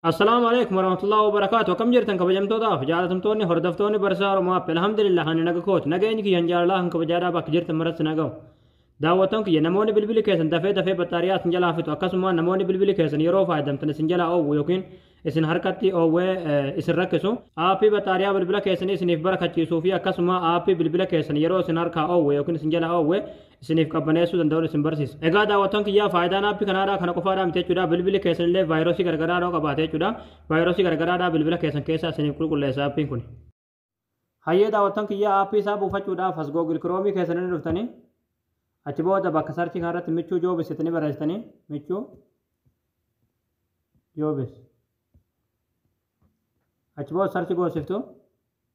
Assalaamu alaikum warahmatullahi wabarakaatu akkam jirtan kabajamtootaaf jaalatamtoonni hordoftoonni barsaa Oromoo app alhamdulillah ani naga kooti nageenyi kiyya hin jaalalaa kan kabajaadhaa bakka jirtan maratti nagahu daawwattoon kiyya namoonni bilbili keessan dafee dafee battaariyaa isin jalaa fixu akkasuma namoonni bilbili keessan yeroo fayyadamtan isin jalaa oowwu yookiin isin harkatti oowwee isin rakkisu aappii battaariyaa bilbila keessanii isiniif barakachiisuu fi akkasuma aappii bilbila keessan yeroo isin harkaa oowwe yookiin isin jalaa oowwe isiniif qabbaneessuu danda'uun isin barsiisa. Egaa daawwattoon kiyyaa faayidaan aappi kanaadhaa kana qofaadhaa miti jechuudha. Bilbili keessan illee vaayirasii garagaraa yoo qabaate jechuudha. Vaayirasii garagaraadhaa bilbila keessan keessaa isiniif qulqulleessa aappiin kun. Hayyee daawwattoon kiyyaa aappii isaa buufachuudhaaf as Google Chrome keessan irra dhuftanii achi booda bakka sarchii kanarratti michuu joobis jettanii barreessitanii michuu joobis achi booda sarchii goosiftu.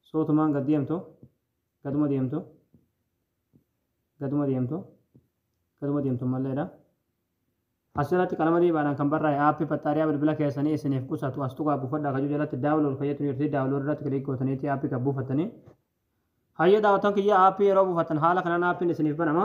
So utumaan gad deemtu, gaduma deemtu, gaduma deemtu, gaduma deemtu ammallee dha. Asirratti qalama diibaadhaan kan barraa'e aappii baxxaariyaa bilbila keessanii isiniif qusatu as tuqaa buufadhaa kajuu jalatti daawlood kan jettu jirti daawlood irratti kiliik gootaniiti aappii kan buufattanii. Hayyee daawwattoon kiyya aappii yeroo buufattan haala kanaan aappiin isiniif banama.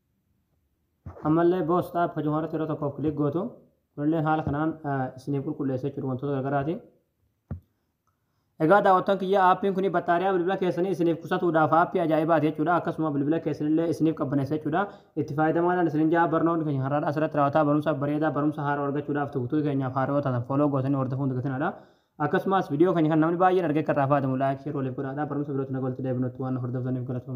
Ammallee Boss App hojuma irratti yeroo tokkoof click gootu. Kunillee haala kanaan isiniif qulqulleessa jechuudha wantoota garagaraati. Egaa daawwattoon kiyya aappiin kun battaariyaa bilbila keessanii isiniif qusatuudhaaf aappii ajaa'ibaati jechuudha. Akkasuma bilbila keessanillee isiniif qabbaneessa jechuudha. Itti fayyadamaadhaan isinin jaa barnoonni keenya har'aadhaa asirratti raawwataa barumsa bareedaa barumsa haaraa argachuudhaaf tuutuu keenyaaf haaraa yoo taatan fooloo gootanii hordofuun dagatinaadha. Akkasumas viidiyoo keenya kan namni baay'een argee akka irraa fayyadamu laayik sheer waliif godhaadha. Barumsa birootti nagaa walitti deebinutti waan hordoftaniif galatooma.